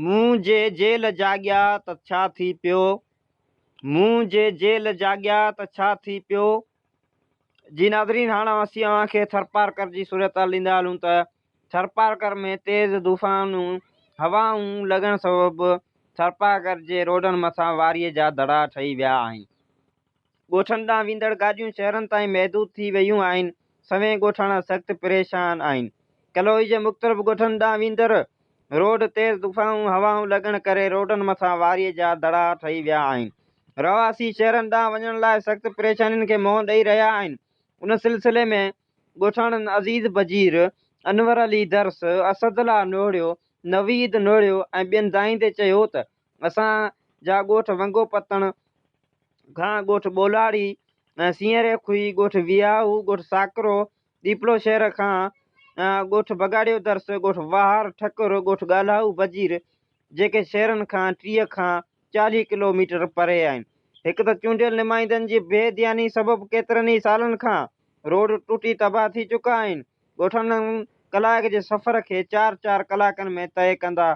مون جي جيل جاڳيا ته ڇا ٿي پيو مون جي جيل جاڳيا ته ڇا ٿي پيو جي ناظرين هاڻ اسين اوهان کي ٿرپارڪر جي صورتحال ڏيندا هلون ته ٿرپارڪر ۾ تيز طوفانون هوائون لڳڻ سبب ٿرپارڪر جي روڊن مٿان واريء جا دڙا ٺهي ويا آهن ڳوٺن ڏانهن ويندڙ گاڏيون شهرن تائين محدود ٿي ويون آهن، سوين ڳوٺاڻا سخت پريشان آهن. ڪلوئي جي مختلف ڳوٺن ڏانهن ويندڙ روڊ تيز طوفانون هوائون لڳڻ ڪري روڊن مٿان واريء جا دڙا ٺهي ويا آهن. رهواسي شهرن ڏانهن وڃڻ لاء سخت پريشانين کي منهن ڏئي رهيا آهن. ان سلسلي ۾ ڳوٺاڻن عزيز بجير، انور علي درس، اسد الله نوڙيو، نويد نوڙيو ۽ ٻين دانهين تي چيو ته، اسان جا ڳوٺ ونگو پتڻ کان ڳوٺ ٻولاڙي، سينئري کوهي، ڳوٺ وياهو، ڳوٺ ساڪرو، ڏيپلو شهر کان ڳوٺ بگاڙيو درس، ڳوٺ واهر ٺڪر، ڳوٺ ڳالهائو بجير جيڪي شهرن کان ٽيهه کان چاليهه ڪلو ميٽر پري آهن. هڪ ته چونڊيل نمائندن جي بي ڌياني سبب ڪيترن ئي سالن کان روڊ ٽٽي تباهه ٿي چڪا آهن. ڳوٺاڻن ڪلائڪ جي سفر کي چار چار ڪلاڪن ۾ طئي ڪندا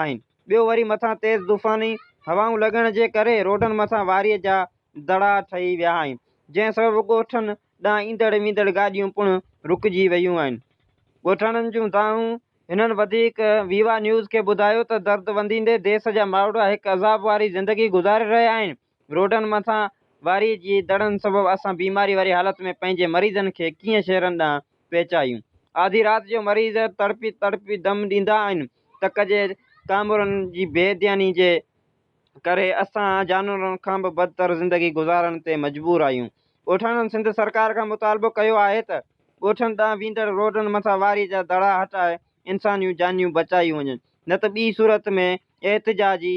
آهن. ٻيو وري مٿان تيز طوفاني هوائون لڳڻ جي ڪري روڊن مٿان واري جا دڙا ٺهي ويا آهن، جنهن سبب ڳوٺن ڏانهن ايندڙ ويندڙ گاڏيون پڻ رڪجي ويون آهن. ڳوٺاڻن جون دانهون هنن وڌيڪ ويوا نيوز کي ٻڌايو ته درد ونديندي ديس جا ماڻهڙا هڪ عذاب واري زندگي گذاري رهيا آهن، روڊن مٿان واري جي دڙن سبب اسان بيماري واري حالت ۾ پنهنجي مريضن کي ڪيئن شهرن ڏانهن پهچايون. آڌي رات جو مريض تڙپي تڙپي دم ڏيندا آهن، تڪ جي ڪامورن جي بي ڌياني جي ڪري اسان جانورن کان به بدتر زندگي گذارڻ تي مجبور آهيون. ڳوٺاڻن سنڌ سرڪار کان مطالبو ڪيو آهي ته ڳوٺن ڏانهن ويندڙ روڊن مٿان واري جا دڙا هٽائي انسانيون جانيون بچايون وڃن نه ته ٻي صورت ۾ احتجاجي